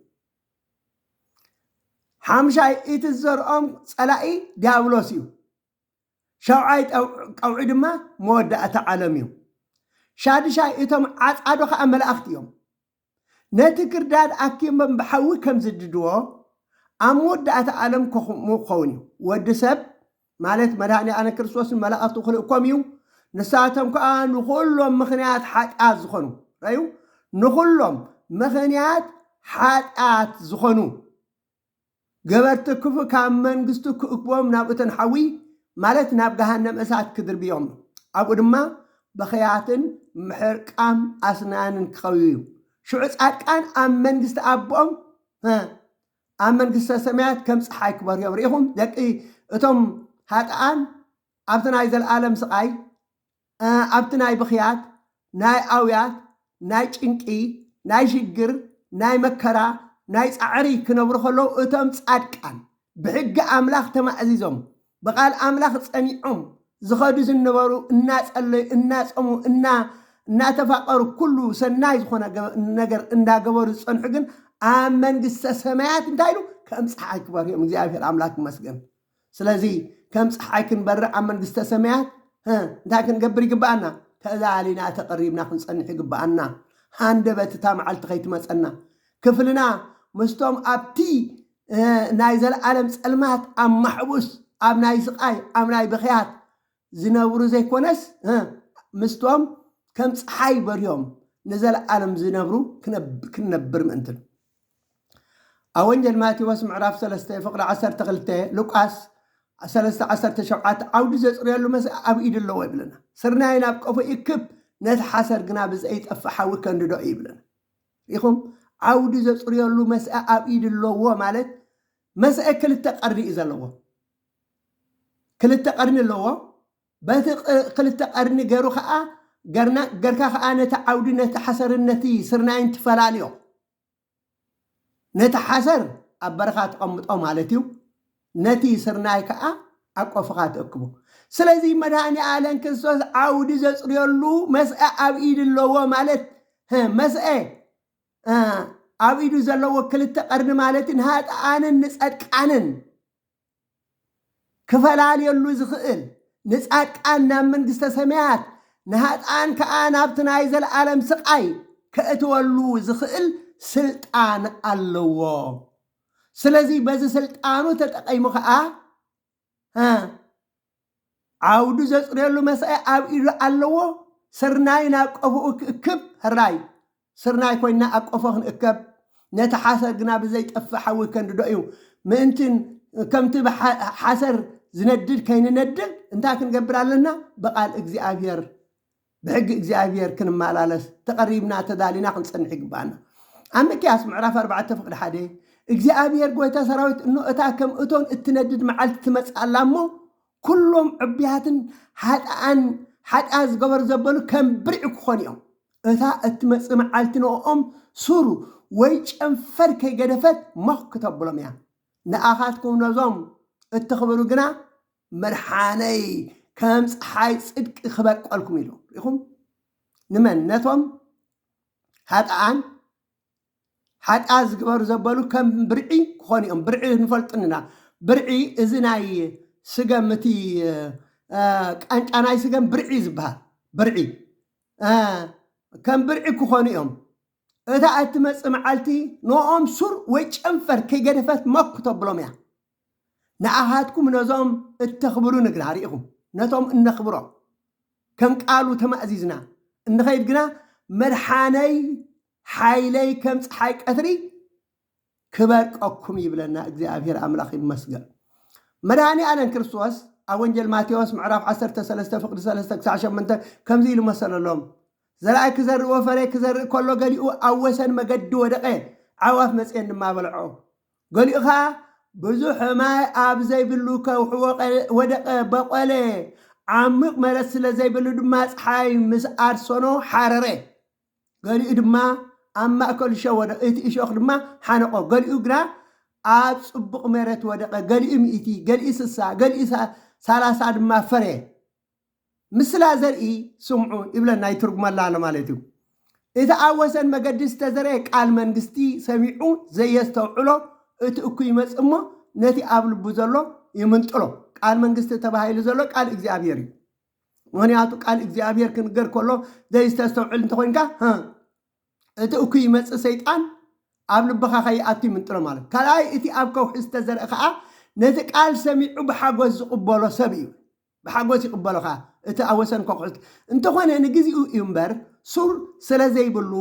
ሓምሻይ እቲ ዝዘርኦም ጸላኢ ዲያብሎስ እዩ። ሻውዓይ ቀውዒ ድማ መወዳእታ ዓለም እዩ። ሻድሻይ እቶም ዓጻዱ ኸኣ መላእኽቲ እዮም። ነቲ ክርዳድ ኣኪቦም ብሓዊ ከም ዝድድዎ፣ ኣብ መወዳእታ ዓለም ከምኡ ክኸውን እዩ። ወዲ ሰብ፣ ማለት መድኃኔ ዓለም ክርስቶስ ንመላእኽቱ ክልእኮም እዩ፣ ንሳቶም ከኣ ንኹሎም ምኽንያት ኃጢኣት ዝኾኑ፣ ርኣዩ፣ ንኹሎም ምኽንያት ኃጢኣት ዝኾኑ፣ ገበርቲ ክፉእ ካብ መንግስቱ ክእክቦም ናብ እቶን ሓዊ ማለት ናብ ገሃነም እሳት ክድርብዮም እዩ። ኣብኡ ድማ ብኽያትን ምሕርቃም ኣስናንን ክኸውዩ እዩ። ሽዑ ጻድቃን ኣብ መንግስቲ ኣቦኦም ሀ ኣብ መንግስተ ሰማያት ከም ፀሓይ ክበርዮም ርኢኹም ደቂ እቶም ሃጥኣን ኣብቲ ናይ ዘለኣለም ስቓይ ኣብቲ ናይ ብኽያት፣ ናይ ኣውያት፣ ናይ ጭንቂ፣ ናይ ሽግር፣ ናይ መከራ፣ ናይ ጻዕሪ ክነብሩ ከለዉ እቶም ጻድቃን ብሕጊ ኣምላኽ ተማእዚዞም ብቃል ኣምላኽ ጸኒዖም ዝኸዱ ዝነበሩ እናጸለዩ እናጸሙ እና እናተፋቀሩ ኩሉ ሰናይ ዝኾነ ነገር እንዳገበሩ ዝጸንሑ ግን ኣብ መንግስተ ሰማያት እንታይ ኢሉ ከምጽሓይ ክበርህዮም እግዚኣብሔር ኣምላክ ይመስገን። ስለዚ ከም ጸሓይ ክንበርዕ ኣብ መንግስተ ሰማያት ህ እንታይ ክንገብር ይግብኣና? ተላሊና ተቐሪብና ክንጸንሕ ይግብኣና ሃንደበት እታ መዓልቲ ከይትመጸና ክፍልና ምስቶም ኣብቲ ህ ናይ ዘለኣለም ጸልማት ኣብ ማሕቡስ ኣብ ናይ ስቓይ ኣብ ናይ ብኽያት ዝነብሩ ዘይኮነስ ህ ምስቶም ከም ጸሓይ በርዮም ንዘለኣለም ዝነብሩ ክንነብር ምእንትን። ኣብ ወንጌል ማቴዎስ ምዕራፍ ሰለስተ ፍቕዲ ዓሰርተ ክልተ፣ ሉቃስ ሰለስተ ዓሰርተ ሸውዓተ ዓውዲ ዘጽርየሉ መስእ ኣብ ኢዱ ኣለዎ ይብለና። ስርናይ ናብ ቀፎ ይእክብ፣ ነቲ ሓሰር ግና ብዘይጠፍእ ሓዊ ከንድዶ እዩ ይብለና። ርኢኹም? ዓውዲ ዘጽርየሉ መስእ ኣብ ኢዱ ኣለዎ ማለት መስእ ክልተ ቀርኒ እዩ ዘለዎ። ክልተ ቀርኒ ኣለዎ። በቲ ቅ- ክልተ ቀርኒ ገሩ ከዓ ገርና ገርካ ከዓ ነቲ ዓውዲ ነቲ ሓሰርን ነቲ ስርናይን ትፈላልዮ። ነቲ ሓሰር ኣብ በረኻ ትቐምጦ ማለት እዩ፣ ነቲ ስርናይ ከኣ ኣብ ቆፍኻ ትእክቦ። ስለዚ መድኃኔ ዓለም ክርስቶስ ዓውዲ ዘጽርየሉ መስአ ኣብ ኢድ ኣለዎ ማለት መስአ ኣብ ኢዱ ዘለዎ ክልተ ቀርኒ ማለት ንኃጥኣንን ንጸድቃንን ክፈላልየሉ ዝኽእል፣ ንጻድቃን ናብ መንግስተ ሰማያት፣ ንሃጥኣን ከኣ ናብቲ ናይ ዘለኣለም ስቓይ ከእትወሉ ዝኽእል ስልጣን ኣለዎ። ስለዚ በዚ ስልጣኑ ተጠቒሙ ከኣ፣ ዓውዱ ዘጽርየሉ መሳይ ኣብ ኢዱ ኣለዎ ስርናይ ናብ ቀፎኡ ክእክብ ሕራይ ስርናይ ኮይንና ኣብ ቀፎ ክንእከብ ነቲ ሓሰር ግና ብዘይጠፍእ ሓዊ ከንድዶ እዩ ምእንቲ ከምቲ ሓሰር ዝነድድ ከይንነድድ እንታይ ክንገብር ኣለና ብቃል እግዚኣብሔር ብሕጊ እግዚኣብሄር ክንመላለስ ተቐሪብና ተዳሊና ክንጸንሕ ይግብኣና። ኣብ ሚክያስ ምዕራፍ ኣርባዕተ ፍቕዲ ሓደ እግዚኣብሄር ጐይታ ሰራዊት እኖ እታ ከም እቶን እትነድድ መዓልቲ ትመጽእ ኣላ እሞ ኵሎም ዕቡያትን ሓጥኣን ሓጢኣት ዝገበሩ ዘበሉ ከም ብርዒ ክዀኑ እዮም። እታ እትመጽእ መዓልቲ ንእኦም ሱር ወይ ጨንፈር ከይገደፈት ሞኽ ክተብሎም እያ። ንኣኻትኩም ነዞም እትኽብሩ ግና መድሓነይ ከም ፀሓይ ፅድቂ ክበቀልኩም ኢሉ ሪኢኹም ንመን ነቶም ሃጥኣን ሓጢኣት ዝግበሩ ዘበሉ ከም ብርዒ ክኾኑ እዮም ብርዒ ንፈልጥንና ብርዒ እዚ ናይ ስገም እቲ ቃንጫ ናይ ስገም ብርዒ ዝበሃል ብርዒ ከም ብርዒ ክኾኑ እዮም እታ እትመፅእ መዓልቲ ንኦም ሱር ወይ ጨንፈር ከይገደፈት መኩ ተብሎም እያ ንኣኃትኩም ነዞም እተኽብሩ ንግራ ርኢኹም ነቶም እነኽብሮ ከም ቃሉ ተማእዚዝና እንኸይድ ግና መድሓነይ ሓይለይ ከም ፀሓይ ቀትሪ ክበርቀኩም ይብለና እግዚኣብሔር ኣምላኽ ይመስገን መድኃኒ ኣለን ክርስቶስ ኣብ ወንጀል ማቴዎስ ምዕራፍ 13 ፍቅዲ 3 ክሳዕ 8 ከምዚ ኢሉ መሰለሎም ዘርኣይ ክዘርእ ወፈሬ ክዘርእ ከሎ ገሊኡ ኣብ ወሰን መገዲ ወደቐ ዓዋፍ መፅኤን ድማ በልዖ ገሊኡ ኸኣ ብዙሕ ማይ ኣብ ዘይብሉ ከውሒ ወደቐ፣ በቖለ፣ ዓሚቕ መረት ስለ ዘይብሉ ድማ ጸሓይ ምስ ኣርሰኖ ሓረረ። ገሊኡ ድማ ኣብ ማእከል እሾኽ ወደቐ፣ እቲ እሾኽ ድማ ሓነቖ። ገሊኡ ግና ኣብ ጽቡቕ መረት ወደቐ፣ ገሊኡ ሚእቲ፣ ገሊኡ ስሳ፣ ገሊኡ ሰላሳ ድማ ፈረየ። ምስላ ዘርኢ ስምዑ ይብለና፣ ይትርጉመላ ኣሎ ማለት እዩ። እቲ ኣብ ወሰን መገዲ ዝተዘርኤ ቃል መንግስቲ ሰሚዑ ዘየስተውዕሎ እቲ እኩይ ይመጽእ እሞ ነቲ ኣብ ልቡ ዘሎ ይምንጥሎ። ቃል መንግስቲ ተባሂሉ ዘሎ ቃል እግዚኣብሔር እዩ። ምክንያቱ ቃል እግዚኣብሔር ክንገር ከሎ ዘይስተስተውዕል እንተኮይንካ ሀ፣ እቲ እኩይ ይመጽእ ሰይጣን ኣብ ልብኻ ከይኣቱ ይምንጥሎ ማለት። ካልኣይ እቲ ኣብ ከውሒ ዝተዘርአ ከዓ ነቲ ቃል ሰሚዑ ብሓጎስ ዝቕበሎ ሰብ እዩ። ብሓጎስ ይቕበሉኻ እቲ ኣብ ወሰን ኮዅሕት። እንተኾነ ንግዜኡ እዩ እምበር ሱር ሰለዘይብሉ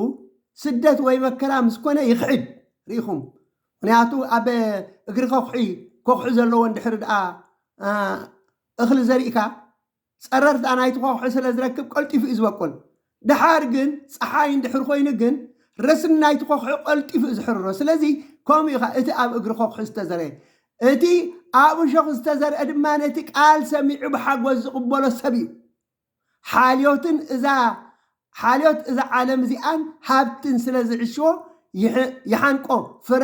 ስደት ወይ መከራ ምስ ኮነ ይኽሕድ ርኢኹም ምኽንያቱ ኣብ እግሪ ከዅሒ ኮዅሒ ዘለዎ እንድሕሪ ድኣ እኽሊ ዘሪእካ ጸረርታ ናይቲ ኮዅሒ ስለዝረክብ ቀልጢፉ እዩ ዝበቁል ደሓር ግን ጸሓይ እንድሕር ኮይኑ ግን ረስኒ ናይቲ ኮኽሒ ቀልጢፉ እዩ ዝሕርሮ። ስለዚ ከምኡ ኢኻ እቲ ኣብ እግሪ ኮኽሒ ዝተዘርኤ። እቲ ኣብ እሾኽ ዝተዘርኤ ድማ ነቲ ቃል ሰሚዑ ብሓጎስ ዝቕበሎ ሰብ እዩ። ሓልዮትን እዛ ሓልዮት እዛ ዓለም እዚኣን ሃብትን ስለ ዝዕሽዎ ይሓንቆ ፍረ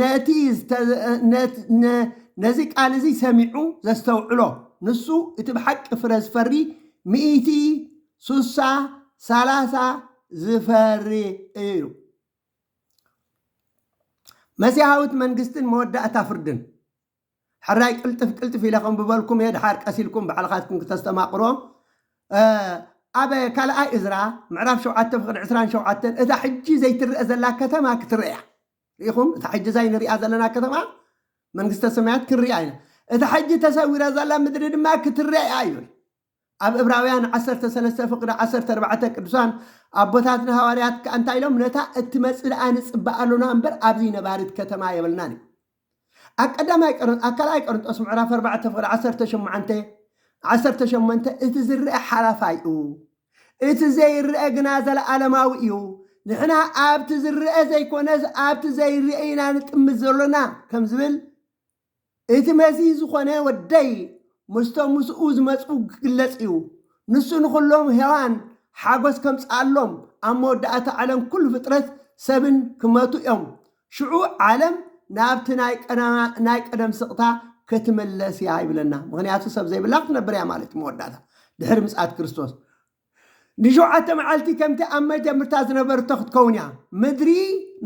ነቲ ዝተ ነ ነዚ ቃል እዚ ሰሚዑ ዘስተውዕሎ ንሱ እቲ ብሓቂ ፍረ ዝፈሪ ሚእቲ ሱሳ ሳላሳ ዝፈሪ እዩ መሲሃዊት መንግስትን መወዳእታ ፍርድን። ሕራይ ቅልጥፍ ቅልጥፍ ኢለ ከንብበልኩም እየ ድሓር ቀስ ኢልኩም ባዕልካትኩም ክተስተማቅሮ እ ኣብ ካልኣይ እዝራ ምዕራፍ ሸውዓተ ፍቅዲ ዕስራን ሸውዓተን እታ ሕጂ ዘይትረኣ ዘላ ከተማ ክትረኣ እያ ርኢኹም እታ ሕጂ እዛ ንሪኣ ዘለና ከተማ መንግስተ ሰማያት ክንሪኣ ኢና እታ ሕጂ ተሰዊራ ዘላ ምድሪ ድማ ክትረኣ እያ ይብል ኣብ እብራውያን ዓሰርተ ሰለስተ ፍቅዲ ዓሰርተ ኣርባዕተ ቅዱሳን ኣቦታትና ሃዋርያት ከኣ እንታይ ኢሎም ነታ እትመጽእ ደኣ ንጽበ ኣሎና እምበር ኣብዚ ነባሪት ከተማ የብልናን እዩ ኣብ ቀዳማይ ቀርን ኣብ ካልኣይ ቀርንጦስ ምዕራፍ ኣርባዕተ ፍቅዲ ዓሰርተ ሸሞዓንተ ዓሰርተ ሸሞንተ እቲ ዝርአ ሓላፋይ እዩ እቲ ዘይርአ ግና ዘለኣለማዊ እዩ ንሕና ኣብቲ ዝርአ ዘይኮነስ ኣብቲ ዘይርአ ኢና ንጥምት ዘሎና ከም ዝብል እቲ መዚ ዝኾነ ወደይ ምስቶም ምስኡ ዝመጹ ክግለጽ እዩ። ንሱ ንኹሎም ሄዋን ሓጎስ ከምጽኣሎም ኣብ መወዳእታ ዓለም ኩሉ ፍጥረት ሰብን ክመቱ እዮም። ሽዑ ዓለም ናብቲ ናይ ቀደማ ናይ ቀደም ስቕታ ክትምለስ እያ ይብለና። ምኽንያቱ ሰብ ዘይብላ ክትነብር እያ ማለት እዩ መወዳእታ ድሕሪ ምጽኣት ክርስቶስ። ንሸውዓተ መዓልቲ ከምቲ ኣብ መጀምርታ ዝነበርቶ ክትከውን እያ። ምድሪ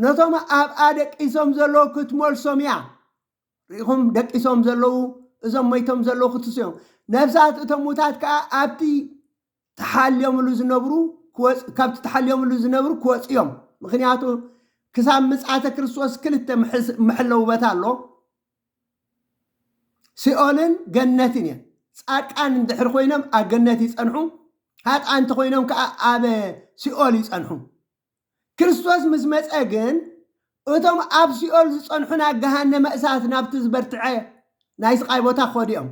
ነቶም ኣብኣ ደቂሶም ዘለዉ ክትመልሶም እያ። ርኢኹም፣ ደቂሶም ዘለዉ እዞም ሞይቶም ዘለዉ ክትስዮም፣ ነፍሳት እቶም ሙታት ከኣ ኣብቲ ተሓልዮምሉ ዝነብሩ ክወጽ- ካብቲ ተሓልዮምሉ ዝነብሩ ክወጹ እዮም። ምኽንያቱ ክሳብ ምጽኣተ ክርስቶስ ክልተ ምሕስ- መሐለዊ ቦታ ኣሎ። ሲኦልን ገነትን እየን። ጻድቃን እንድሕር ኮይኖም ኣብ ገነት ይጸንሑ፣ ሃጥኣን እንተኾይኖም ከዓ ኣብ ሲኦል ይጸንሑ። ክርስቶስ ምስ መጸ ግን እቶም ኣብ ሲኦል ዝጸንሑ ናብ ገሃነመ እሳት ናብቲ ዝበርትዐ ናይ ስቓይ ቦታ ክኸዱ እዮም።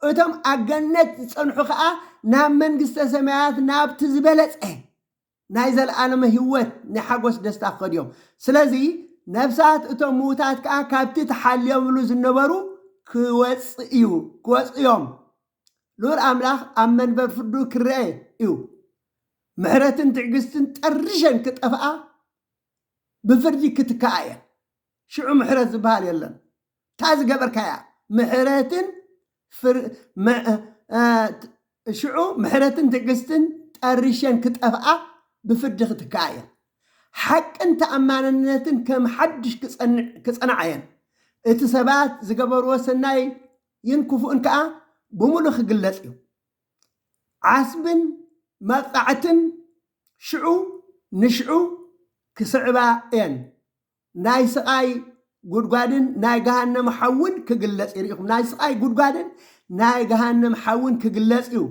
እቶም ኣብ ገነት ዝጸንሑ ከዓ ናብ መንግስተ ሰማያት ናብቲ ዝበለጸ ናይ ዘለኣለመ ህይወት ናይ ሓጎስ ደስታ ክኸዱ እዮም። ስለዚ ነፍሳት እቶም ምዉታት ከኣ ካብቲ ተሓልዮምሉ ዝነበሩ ክወጽእ እዩ ክወጽኡ እዮም። ልኡል ኣምላኽ ኣብ መንበር ፍርዱ ክርኣ እዩ። ምሕረትን ትዕግስትን ጠሪሸን ክጠፍኣ ብፍርዲ ክትክኣ እየን። ሽዑ ምሕረት ዝበሃል የለን። እታ ዝገበርካያ ምሕረትን ሽዑ ምሕረትን ትዕግስትን ጠሪሸን ክጠፍኣ ብፍርዲ ክትክኣ እየን። ሓቅን ተኣማንነትን ከም ሓድሽ ክጸንዓ እየን፣ እቲ ሰባት ዝገበርዎ ሰናይን ክፉእን ከኣ ብምሉእ ክግለጽ እዩ። ዓስብን መቕጻዕትን ሽዑ ንሽዑ ክስዕባ እየን። ናይ ስቓይ ጉድጓድን ናይ ገሃነም ሓውን ክግለጽ እዩ። ርኢኹም፣ ናይ ስቓይ ጉድጓድን ናይ ገሃነም ሓውን ክግለጽ እዩ፣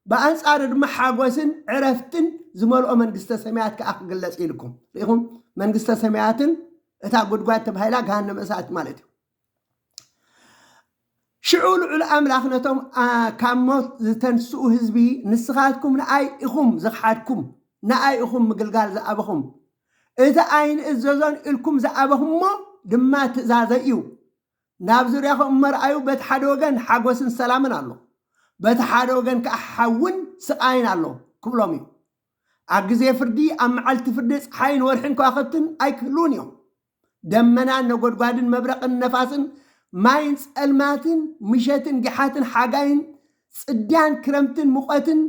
ብኣንጻሩ ድማ ሓጎስን ዕረፍትን ዝመልኦ መንግስተ ሰማያት ከኣ ክግለጽ እዩ ኢልኩም። ርኢኹም፣ መንግስተ ሰማያትን እታ ጉድጓድ ተባሂላ ገሃነመ እሳት ማለት እዩ። ሽዑ ልዑል ኣምላኽ ነቶም ካብ ሞት ዝተንስኡ ህዝቢ ንስኻትኩም ንኣይ ኢኹም ዝኸሓድኩም፣ ንኣይ ኢኹም ምግልጋል ዝኣበኹም፣ እቲ ኣይንእዘዞን ኢልኩም ዝኣበኹምዎ ድማ ትእዛዘይ እዩ። ናብ ዙርያኹም እሞ ርኣዩ፣ በቲ ሓደ ወገን ሓጐስን ሰላምን ኣሎ፣ በቲ ሓደ ወገን ከኣ ሓውን ስቓይን ኣሎ ክብሎም እዩ። ኣብ ግዜ ፍርዲ፣ ኣብ መዓልቲ ፍርዲ ጸሓይን ወርሕን ከዋኽብትን ኣይክህልዉን እዮም። ደመናን ነጎድጓድን መብረቕን ነፋስን ማይን ጸልማትን ምሸትን ግሓትን ሓጋይን ጽድያን ክረምትን ሙቐትን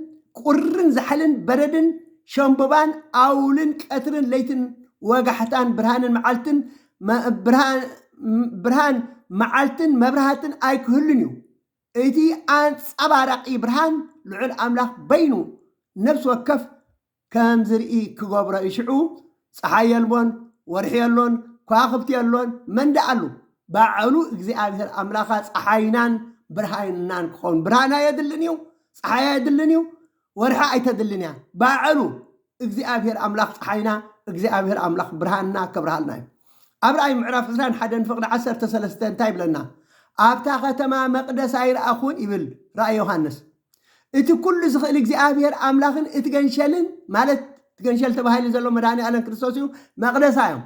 ቁርን ዛሕልን በረድን ሸምብባን ኣውልን ቀትርን ለይትን ወጋሕታን ብርሃንን መዓልትን ብርሃን መዓልትን መብራህትን ኣይክህሉን እዩ። እቲ ኣንጸባራቒ ብርሃን ልዑል ኣምላኽ በይኑ ነፍሲ ወከፍ ከም ዝርኢ ክገብሮ እዩ ሽዑ ጸሓይ የልቦን ወርሒ የሎን ኳክብቲ የሎን መን ደኣ ኣሉ ባዐሉ እግዚኣብሔር ኣምላካ ጸሓይናን ብርሃንናን ክኮን ብርሃን ኣየድልን እዩ ጸሓይ ኣየድልን እዩ ወርሒ ኣይተድልን እያ ባዐሉ እግዚኣብሔር ኣምላክ ጸሓይና እግዚኣብሔር ኣምላክ ብርሃንና ከብርሃልና እዩ ኣብ ራእይ ምዕራፍ 20 ሓደን ፍቅዲ 13 እንታይ ይብለና ኣብታ ከተማ መቅደስ ኣይረኣኹን ይብል ራእይ ዮሃንስ እቲ ኩሉ ዝኽእል እግዚኣብሔር ኣምላኽን እቲ ገንሸልን ማለት እቲ ገንሸል ተባሂሉ ዘሎ መድኃኔዓለም ክርስቶስ እዩ መቅደሳ እዮም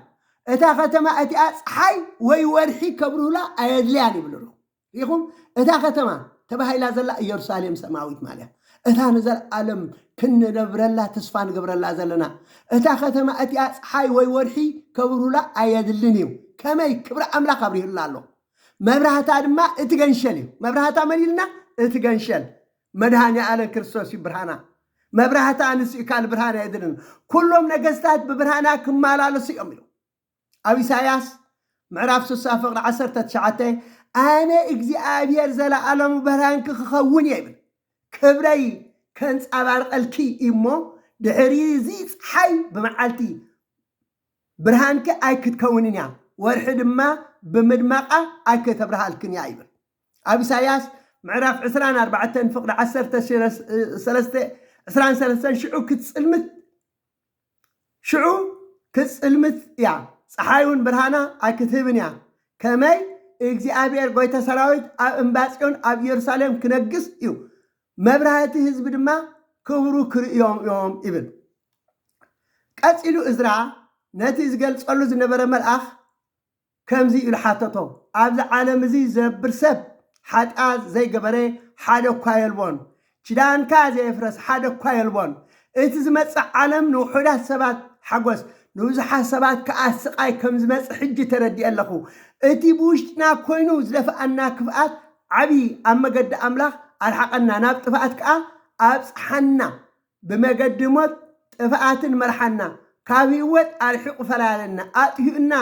እታ ከተማ እቲኣ ፀሓይ ወይ ወርሒ ከብርሁላ ኣየድልያን ይብሉ ኣለኹ ሪኹም እታ ከተማ ተባሂላ ዘላ ኢየሩሳሌም ሰማዊት ማለያ እታ ንዘለዓለም ክንነብረላ ተስፋ ንገብረላ ዘለና እታ ከተማ እቲኣ ፀሓይ ወይ ወርሒ ከብርሁላ ኣየድልን እዩ ከመይ ክብሪ ኣምላኽ ኣብሪሁላ ኣሎ መብራህታ ድማ እቲ ገንሸል እዩ። መብራህታ መን ኢልና? እቲ ገንሸል መድኃኔዓለም ክርስቶስ እዩ ብርሃና። መብራህታ ንሱ እዩ ካልእ ብርሃን ኣየድልን። ኩሎም ነገሥታት ብብርሃና ክመላለሱ እዮም ኢሉ ኣብ ኢሳይያስ ምዕራፍ ስሳ ፍቕሪ ዓሰርተ ትሽዓተ ኣነ እግዚኣብሔር ዘለዓለሙ ብርሃንኪ ክኸውን እየ ይብል ክብረይ ከንጸባርቐልኪ እዩሞ ድሕሪ እዚ ፀሓይ ብመዓልቲ ብርሃንኪ ኣይክትከውንን እያ፣ ወርሒ ድማ ብምድማቓ ኣይክተብርሃልክን እያ ይብል። ኣብ ኢሳይያስ ምዕራፍ ዕስራን ኣርባዕተን ፍቕዲ ዓሰርተ ሰለስተ ዕስራን ሰለስተን ሽዑ ክትጽልምት ሽዑ ክትጽልምት እያ፣ ጸሓይውን ብርሃና ኣይክትህብን እያ፣ ከመይ እግዚኣብሔር ጐይታ ሰራዊት ኣብ እምባጽዮን ኣብ ኢየሩሳሌም ክነግስ እዩ፣ መብራህቲ ህዝቢ ድማ ክብሩ ክርእዮም እዮም ይብል። ቀጺሉ እዝራ ነቲ ዝገልጸሉ ዝነበረ መልኣኽ ከምዚ ኢሉ ሓተቶ፣ ኣብዚ ዓለም እዚ ዝነብር ሰብ ሓጢኣት ዘይገበረ ሓደ እኳ የልቦን፣ ኪዳንካ ዘየፍረሰ ሓደ እኳ የልቦን። እቲ ዝመጽእ ዓለም ንውሑዳት ሰባት ሓጐስ፣ ንብዙሓት ሰባት ከኣ ስቓይ ከም ዝመጽእ ሕጂ ተረዲኤ ኣለኹ። እቲ ብውሽጥና ኰይኑ ዝደፍኣና ክፍኣት ዓቢ ኣብ መገዲ ኣምላኽ ኣርሓቐና ናብ ጥፍኣት ከኣ ኣብጽሓና ብመገዲ ሞት ጥፍኣትን መርሓና ካብ ሂወት ኣርሒቑ ፈላለና ኣጥፊኡና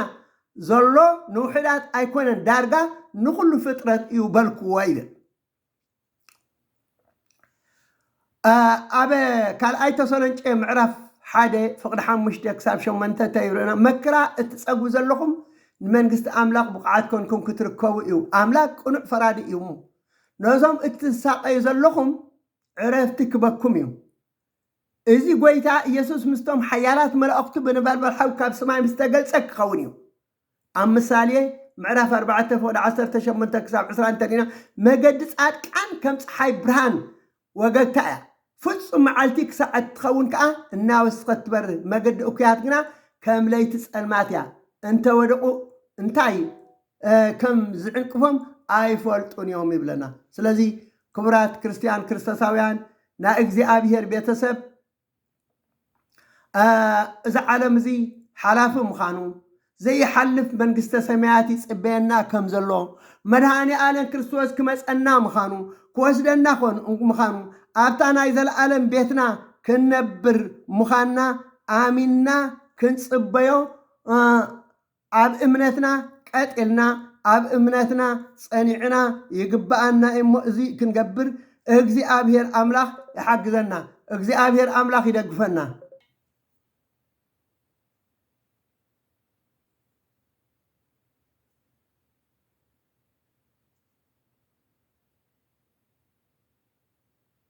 ዘሎ ንውሑዳት ኣይኮነን ዳርጋ ንኹሉ ፍጥረት እዩ በልክዎ ይብል። ኣብ ካልኣይ ተሰሎንጨ ምዕራፍ ሓደ ፍቕዲ ሓሙሽተ ክሳብ ሸሞንተ እንተይርኡና መክራ እትጸግቡ ዘለኹም ንመንግስቲ ኣምላኽ ብቑዓት ኮንኩም ክትርከቡ እዩ ኣምላክ ቅኑዕ ፈራዲ እዩ እሞ ነዞም እትሳቀዩ ዘለኹም ዕረፍቲ ክበኩም እዩ እዚ ጎይታ ኢየሱስ ምስቶም ሓያላት መላእኽቱ ብነበልባል ሓዊ ካብ ሰማይ ምስ ተገልጸ ክኸውን እዩ ኣብ ምሳሌ ምዕራፍ ኣርባዕተ ፍቕዲ ዓሰርተ ሸሞንተ ክሳብ ዕስራ እንተ ርኢና፣ መገዲ ጻድቃን ከም ጸሓይ ብርሃን ወገግታ እያ፣ ፍጹም መዓልቲ ክሳዕ እትኸውን ከኣ እናወስኸት ትበርህ፣ መገዲ እኩያት ግና ከም ለይቲ ጸልማት እያ፣ እንተ ወደቑ እንታይ ከም ዚዕንቅፎም ኣይፈልጡን እዮም ይብለና። ስለዚ ክቡራት ክርስትያን ክርስቶሳውያን ናይ እግዚኣብሔር ቤተ ሰብ እዚ ዓለም እዚ ሓላፊ ምዃኑ፣ ዘይሓልፍ መንግስተ ሰማያት ይጽበየና ከም ዘሎ፣ መድሃኔኣለም ክርስቶስ ክመጸና ምዃኑ፣ ክወስደና ምዃኑ፣ ኣብታ ናይ ዘለኣለም ቤትና ክንነብር ምዃንና ኣሚንና ክንጽበዮ ኣብ እምነትና ቀጥ ኢልና ኣብ እምነትና ጸኒዕና ይግበኣና እዩሞ እዚ ክንገብር እግዚኣብሔር ኣምላኽ ይሓግዘና እግዚኣብሔር ኣምላኽ ይደግፈና።